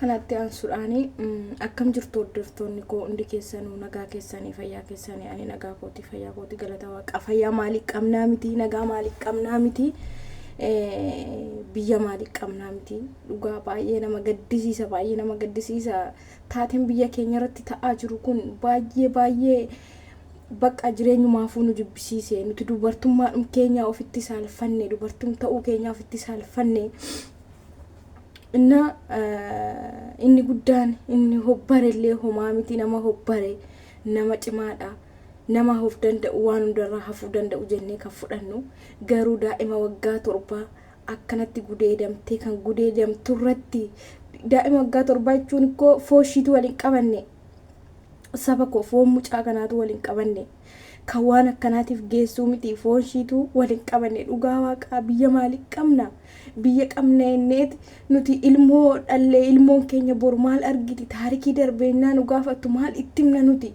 Kanatti aansuudhaan akkam jirtu hordoftoonni koo hundi keessanuu nagaa keessanii fayyaa keessanii ani nagaa kooti fayyaa kooti galata waaqa fayyaa maalii qabnaa miti nagaa maalii qabnaa miti biyya maalii qabnaa miti dhugaa baay'ee nama gaddisiisa baay'ee nama gaddisiisa taateen biyya keenya irratti ta'aa jiru kun baay'ee baay'ee Baqqa jireenyumaafuu nu jibbisiise. Nuti dubartummaadhum keenyaa ofitti saalfanne. Dubartum ta'uu keenyaa ofitti saalfanne. Inna inni guddaan inni hobbare illee homaa miti nama hobbare nama cimaadha. Nama of danda'u waan hundarraa hafuu danda'u jennee kan fudhannu garuu daa'ima waggaa torbaa akkanatti gudeedamtee kan gudeedamtu irratti daa'ima waggaa torbaa jechuun ikkoo fooshiitu wal hin qabanne. saba koo foon mucaa kanaatu wal hin qabanne kan waan akkanaatiif geessuu miti foon ishiitu wal hin qabanne dhugaa waaqaa biyya maalii qabna biyya qabna enneeti nuti ilmoo dhallee ilmoon keenya boru maal argiti taarikii darbeennaa nu gaafattu maal itti himna nuti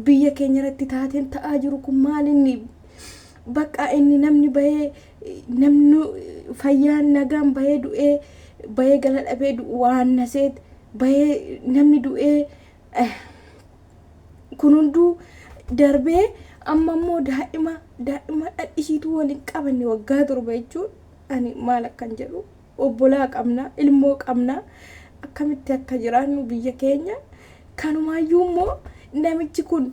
biyya keenya irratti taateen ta'aa jiru kun maal inni bakka inni namni bahee namni fayyaan nagaan bahee du'ee bahee gala dhabee du'u waan naseet bahee namni du'ee eh, kun hunduu darbee amma immoo daa'ima daa'ima dhadhisiituu wal hin qabanne waggaa torba jechuun ani maal akkan jedhu obbolaa qabna ilmoo qabna akkamitti akka jiraannu biyya keenya kanumaayyuu immoo namichi kun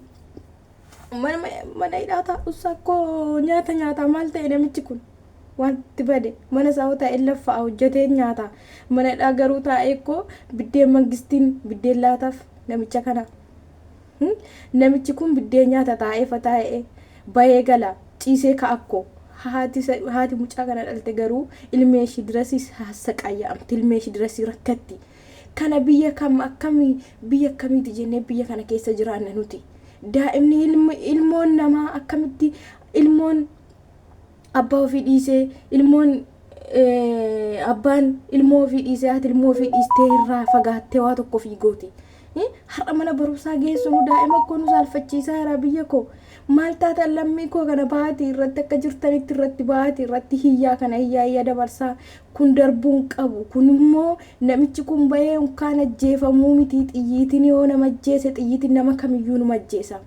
mana hidhaa taa'uusaa koo nyaata nyaataa maal ta'e namichi kun wanti bade mana isaa taa'ee laffaa hojjetee nyaata mana hidhaa garuu taa'ee koo biddeen mangistiin biddeen laataaf namicha kana namichi kun biddeen nyaata taa'ee fataa'ee bayee gala ciisee ka'akko haati mucaa kana dhalte garuu ilmee ishii dirasiis hassaqaayyaa'amti ilmee ishii dirasii rakkatti Kana biyya kam akkami biyya akkamiiti jennee biyya kana keessa jiraanna nuti. Daa'imni ilmi ilmoon namaa akkamitti ilmoon abbaa ofii dhiisee ilmoon eh, abbaan ilmoo ofii dhiisee haati ilmoo ofii dhiistee irraa fagaattee waa tokko ofii gooti. Eh, Har'a mana barumsaa geessinu daa'ima koo nu saalfachiisaa jira biyya koo. Maal taatan lammii koo kana ba'aati irratti akka jirtanitti irratti ba'aati irratti hiyyaa kana hiyyaa hiyyaa dabarsaa Kun darbuu hin qabu. Kun immoo namichi kun bahee unkaan ajjeefamuu miti xiyyiitin yoo nama ajjeese xiyyiitin nama kamiyyuu numa ajjeesa.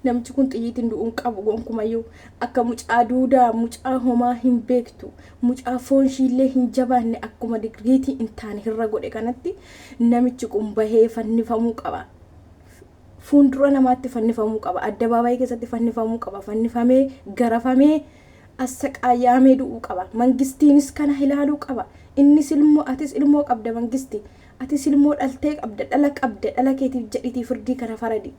Namichi kun xiyyiitin du'uu hin qabu gonkumayyuu. Akka mucaa duudaa, mucaa homaa hin beektu, mucaa foon ishiillee hin jabaanne akkuma digriitii hin taane hirra godhe kanatti namichi kun bahee fannifamuu qaba. fuundura namaatti fannifamuu qaba, addabaabaayii keessatti fannifamuu qaba, fannifamee, garafamee, assaqaayaamee du'uu qaba. Mangistiinis kana ilaaluu qaba. Innis ilmoo, atis ilmoo qabda Mangisti. Atis ilmoo dhaltee qabda, dhala qabda, dhala keetiif jedhiitii firdii kana faradi.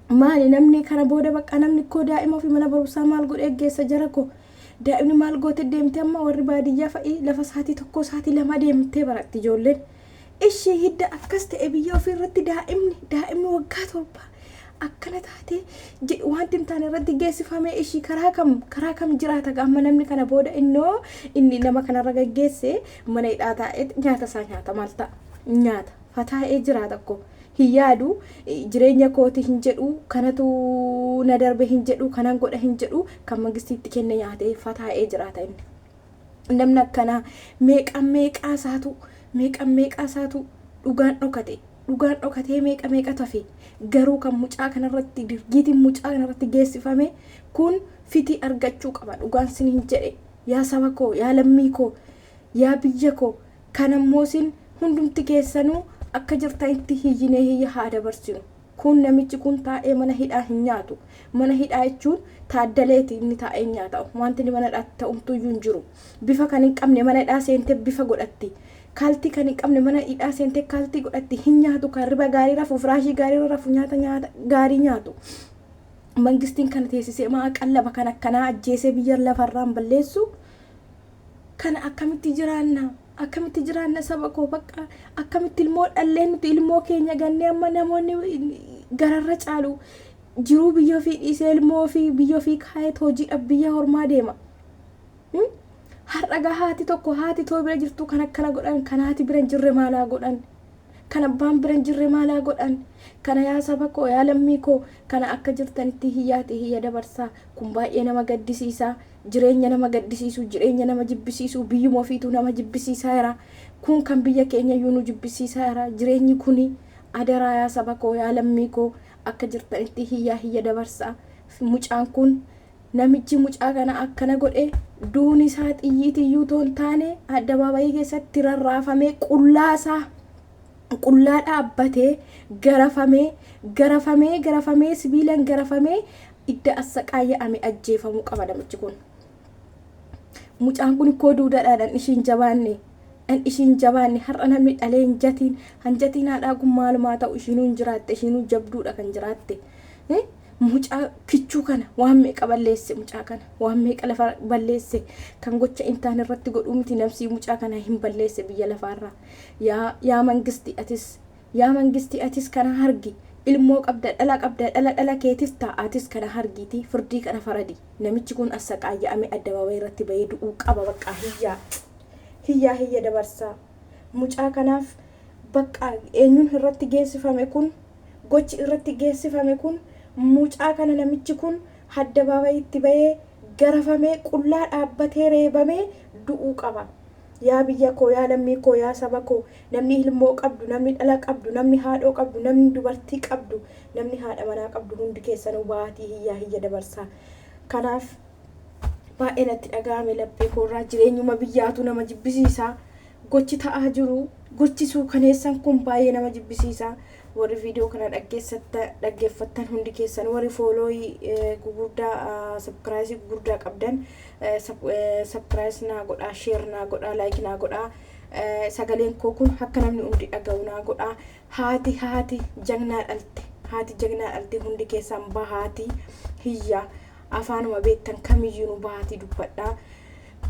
Maali namni kana booda baqqaa namni koo daa'ima ofii mana barumsaa maal godhee geessa jara koo? Daa'imni maal goote deemti amma warri baadiyyaa fa'i lafa sa'aatii tokkoo sa'aatii lamaa deemtee baratti ijoolleen. Ishii hidda akkas ta'e biyya ofii irratti daa'imni daa'imni waggaa torbaa akkana taatee je- wanti hin taane irratti geessifamee ishii karaa kam karaa kam jiraata gaa amma namni kana booda innoo inni nama kanarra gaggeesse mana hidhaa taa'eet nyaata isaa nyaata maal ta'a nyaata fataa'ee jiraata koo. hin yaadu. Jireenya kooti hin jedhu, kanatu na darbe hin jedhu, kanan godha hin jedhu, kan mangistii itti kenne nyaatee fataa'ee jiraata inni. Namni akkanaa meeqa meeqaa isaatu meeqa meeqaa isaatu dhugaan dhokate dhugaan dhokatee meeqa meeqa tafe garuu kan mucaa kanarratti dirgiitiin mucaa kanarratti geessifame kun fitii argachuu qaba dhugaan siniin jedhe yaa saba koo yaa lammii koo yaa biyya koo Kan ammoo isin hundumti keessanuu akka jirtanitti hiyyinee hiyya haa dabarsinu. Kun namichi kun taa'ee mana hidhaa hin nyaatu. Mana hidhaa jechuun Taaddaleeti inni taa'ee nyaata. Wanti inni mana hidhaatti ta'u homtuuyyuu hin jiru. Bifa kan hin qabne mana hidhaa seentee bifa godhatti. Kaaltii kan hin qabne mana hidhaa seentee kaaltii godhatti. Hin nyaatu kan riba gaarii rafu, firaashii gaarii irra rafu, nyaata nyaata gaarii nyaatu. Mangistiin kana teessisee maa qallaba kan akkanaa ajjeesee biyya lafarraan balleessu? Kana akkamitti jiraanna? Akkamitti jiraanna saba koo bakka akkamitti ilmoo dhallee nuti ilmoo keenya gannee amma namoonni gararra caalu jiruu biyya ofii dhiisee ilmoo ofii biyya ofii kaayeet hojiidhaaf biyya hormaa deema. Hmm? Har'a gaa haati tokko haati too bira jirtu kan akkana godhan kan haati bira hin jirre maalaa godhan? Kan abbaan bira hin jirre maalaa godhan? Kana yaa saba koo yaa lammii koo kana akka jirtanitti hiyyaati hiyya dabarsaa kun baay'ee nama gaddisiisaa. jireenya nama gaddisiisu, jireenya nama jibbisiisu, biyyuma ofiitu nama jibbisiisaa jira. Kun kan biyya keenyayyuu nu jibbisiisaa jira. Jireenyi kuni adaraa yaa saba koo, yaa lammii koo akka jirtanitti hiyyaa hiyya dabarsaa. Mucaan kun namichi mucaa kana akkana godhe duuni isaa xiyyiitiyyuu otoo hin taane addabaabayii keessatti rarraafamee qullaa isaa qullaa dhaabbatee garafamee garafamee garafamee sibiilan garafamee idda assaqaayya ame ajjeefamu qaba namichi kun mucaan kun ikkoo duudadha dhan ishiin jabaanne dhan ishiin jabaanne har'a namni dhalee hin jatiin han jatiin haadhaa kun maalumaa ta'u ishiinuu hin jiraatte ishiinuu jabduudha kan jiraatte mucaa kichuu kana waan meeqa balleesse mucaa kana waan meeqa lafa balleesse kan gocha intaan irratti godhuu miti namsii mucaa kana hin balleesse biyya lafaarraa yaa yaa mangisti atis Yaa mangistii atis kana hargi ilmoo qabda dhala qabda dhala dhala keetis ta, atis kana hargiitii firdii kana faradi namichi kun assaqaayya'ame addababay irratti bayee du'uu qaba baqqaa hiyyaa hiyyaa hiyya dabarsaa mucaa kanaaf baqqaa eenyun irratti geessifame kun gochi irratti geessifame kun mucaa kana namichi kun haddabaabayitti bayee garafamee qullaa dhaabbatee reebamee du'uu qaba. Yaa biyya koo, yaa lammii koo, yaa saba koo, namni ilmoo qabdu, namni dhala qabdu, namni haadhoo qabdu, namni dubartii qabdu, namni haadha manaa qabdu hundi keessanuu baatii hiyyaa hiyya dabarsaa. Kanaaf baay'ee natti dhaga'ame laphee koorraa jireenyuma biyyaatu nama jibbisiisaa. Gochi ta'aa jiru, gochi suukaneessan kun baay'ee nama jibbisiisaa. Warri viidiyoo kana dhaggeessatta- dhaggeeffattan hundi keessan, warri foolooyii eh, gugurdaa, sabkiraayisii gugurdaa qabdan, Subscribe naa godhaa share naa godhaa like naa godhaa sagaleen koo kun akka namni hundi dhaga'u naa godhaa haati haati jagnaa dhalte haati jagnaa dhalte hundi keessaan bahaatii hiyya afaanuma beektan kamiyyuu nu bahaatii dubbadhaa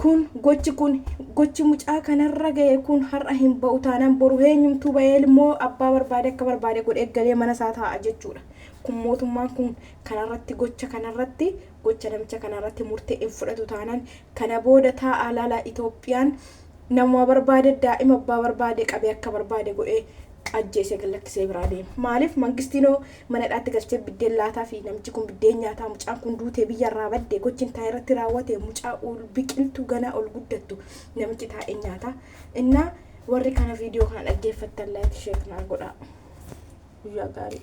kun gochi kun gochi mucaa kanarra ga'e kun har'a hin ba'u taanaan boru eenyumtuu ba'ee immoo abbaa barbaade akka barbaade godhee galee mana isaa taa'a jechuudha kun mootummaan kun kanarratti gocha kanarratti gocha namicha kanaa irratti murtee hin fudhatu taanaan kana booda taa'aa laalaa Itoophiyaan namuma barbaade daa'ima abbaa barbaade qabee akka barbaade godhee ajjeesee gad lakkisee biraa deema. Maaliif mangistiinoo mana hidhaatti galchee biddeen laataa fi namichi kun biddeen nyaataa mucaan kun duutee biyya irraa badde gochi intaa irratti raawwate mucaa ol biqiltuu ganaa ol guddattu namichi taa'ee nyaata. Innaa warri kana viidiyoo kana dhaggeeffattan laayik sheek naa godhaa. Guyyaa gaarii.